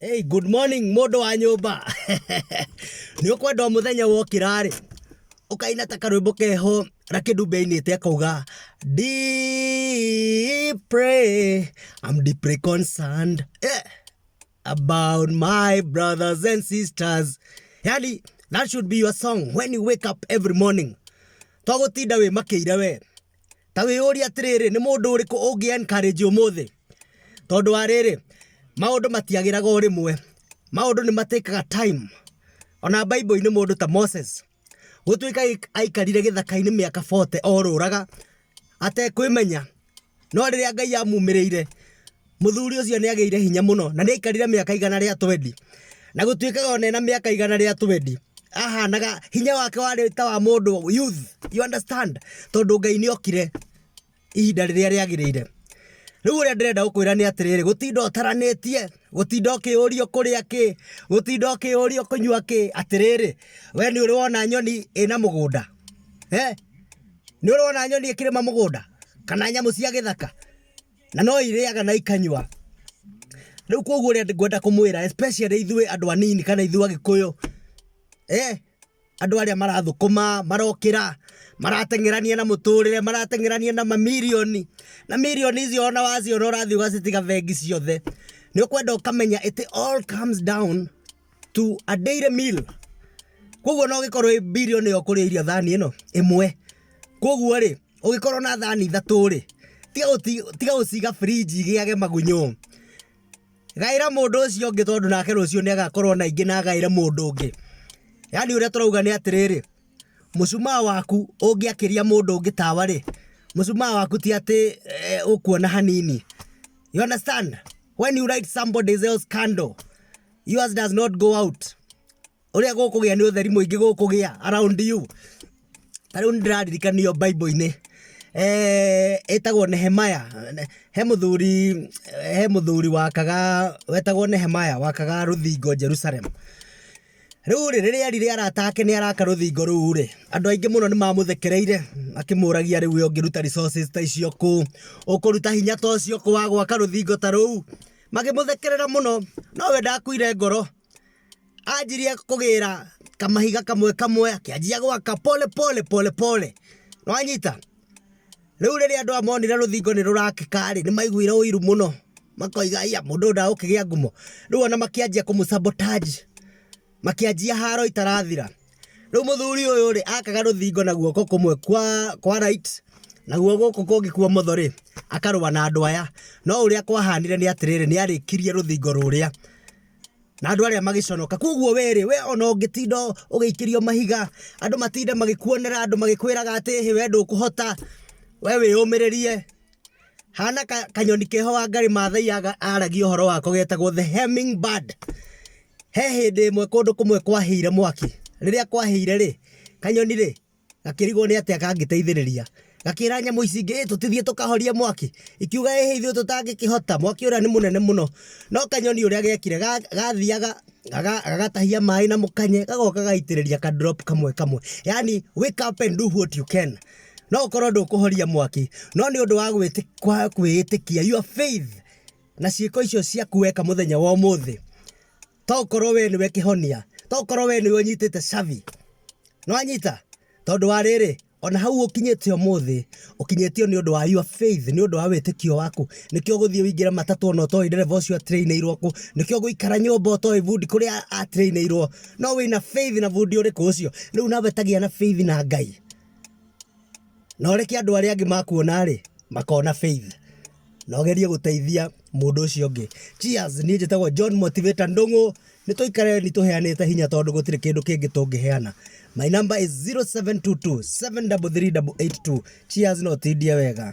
Hey, good morning mũndũ wa nyũmba nĩ ũkwenda mũthenya wokĩra rĩ ũkaina ta karwĩmbo keho na kĩndũ mbeinĩte akauga dipre am deeply concerned eh, about my brothers and sisters yani that should be your song when you wake up every morning twagutinda wä makä ire we ta wĩyũria atĩrĩrĩ nĩ mũndũ ũrĩkũ ũngĩ encourage ũmũthĩ tondũ wa rĩrĩ maũndũ matiagĩraga o rĩmwe maũndũ nĩ matĩkaga time ona bible-inĩ mũndũ ta moses gũtuĩka aik- aikarire gĩthaka-inĩ mĩaka 40 orũraga atekwĩmenya no rĩrĩa ngai amumĩrĩire Mũthuri ũcio nĩ agĩire hinya mũno na nĩ aikarire mĩaka igana rĩa twendi. Na gũtuĩkaga ona ena mĩaka igana rĩa twendi ahanaga hinya wake warĩ ta wa mũndũ youth, you understand? Tondũ Ngai nĩ okire ihinda rĩrĩa rĩagĩrĩire. Rĩu ũrĩa ndĩrenda gũkwĩra nĩ atĩrĩrĩ, gũtinda ũtaranĩtie, gũtinda ũkĩũrio kũrĩa kĩ, gũtinda ũkĩũrio kũnyua kĩ, atĩrĩrĩ, we nĩ ũrĩ wona nyoni ĩna mũgũnda? Eh? Nĩ ũrĩ wona nyoni ĩkĩrĩma mũgũnda? Kana nyamũ cia gĩthaka? na no irĩaga na ikanyua rä u koguo rä ngwenda kå mwä ra ithuä andå anini kana ithuä agä kå yå eh, andå arä a marathå kå ma marokä ra marateng'erania na muturire marateng'erania na mamirioni na mirioni icio ona waciona ũrathiĩ ũgacitiga bengi ciothe nĩ ũkwenda ũkamenya it all comes down to a daily meal koguo no gikorwo i billion yo kuri irio thani ino imwe koguo ri ugikorwo na thani ithatu ri tiga uti tiga uciga fridge igiage magunyo gaira mundu ucio ngi tondu nake rucio ni agakorwo na ingi na gaira mundu ngi yani uria turauga ni atiriri mucumaa waku ungiakiria mundu ngi tawa ri mucumaa waku ti ati eh, ukuona hanini you understand when you light somebody's else candle Yours does not go out. Ũrĩa gũkũgĩa nĩ ũtheri mũingĩ gũkũgĩa around you. Ta rĩu nĩndĩraririkanio Bible-inĩ eh, ĩtagwo Nehemaya. He mũthuri he mũthuri wakaga wetagwo Nehemaya wakaga rũthingo Jerusalem. Rĩu rĩ rĩrĩa erire arata ake nĩ araka rũthingo rũu rĩ andũ aingĩ mũno nĩ mamũthekereire akĩmũragia rĩu we ũngĩruta resources ta icio kũ ũkũruta hinya ta ũcio kũ wa gwaka rũthingo ta rũu makĩmũthekerera mũno nowe ndakuire ngoro anjirie kũgĩra kamahiga kamwe kamwe akĩanjia gwaka pole pole pole pole nwanyita rĩu rĩrĩa andũ amonire rũthingo nĩ rũrakĩkarĩ nĩ maiguire ũiru mũno makoiga iya mũndũ ũyũ ndagũkĩgĩa ngumo rĩu ona makĩanjia kũmũsabotage Makĩanjia haro itarathira. Rĩu mũthuri ũyũ rĩ akaga rũthingo na guoko kũmwe kwa, kwa right naguo gũkũ kũngĩ kwa ũmotho rĩ akarũa na andũ aya no ũrĩa kwahanire nĩ atĩrĩrĩ nĩ arĩkirie rũthingo rũrĩa na andũ arĩa magĩconoka koguo we rĩ we ona ũngĩtinda ũgĩikĩrio mahiga andũ matinde magĩkuonera andũ magĩkwĩraga atĩ hĩ we ndũkũhota we wĩyũmĩrĩrie hana kanyoni keho wa ngarĩ mathai aragia ũhoro wako getagwo the hemming bird he hĩndĩ ĩmwe kũndũ kũmwe kwahĩire mwaki rĩrĩa kwahĩire rĩ kanyoni rĩ gakĩrigwo nĩ atĩa kangĩteithĩrĩria gakira nyamå ici ingä tå tithie tå kahorie mwaki ikiuga ä hä ithuä tå tangä kä hota mwaki å rä a nä må nene må no no kanyoni å rä a gekire gathiaga gagatahia maĩ na mũkanye gagoka gaitĩrĩria ka drop kamwe kamwe yani wake up and do what you can no ukorwo ndũkũhoria mwaki no nĩ ũndũ wa kwĩĩtĩkia your faith na ciĩko icio ciaku weka mũthenya wa ũmũthĩ to korwo we nĩwe kĩhonia to korwo we nĩwe ũnyitĩte cabi nĩwanyita tondũ wa rĩrĩ Ona hau ũkinyĩte ũmũthĩ, ũkinyĩtio nĩ ũndũ wa your faith, nĩ ũndũ wa wĩtĩkio waku. Nĩkĩo ũgũthiĩ ũingĩre matatũ ona ũtoĩ ndereba ũcio a train ĩirwo kũ, nĩkĩo ũgũikara nyũmba ũtoĩ bundi kũrĩa a train ĩirwo. No wĩna faith na bundi ũrĩkũ ũcio? Rĩu nawe ta gĩa na faith na Ngai, na ũreke andũ arĩa angĩ makuona-rĩ, makona faith. na ũgerie gũteithia mũndũ ũcio ũngĩ. Cheers! Niĩ njĩtagwo John Motivator Ndũng'ũ. Nĩ tũikare nĩ tũheanĩte hinya tondũ gũtirĩ kĩndũ kĩngĩ tũngĩheana. My number is 0722 733 882. Cheers na ũtindie wega.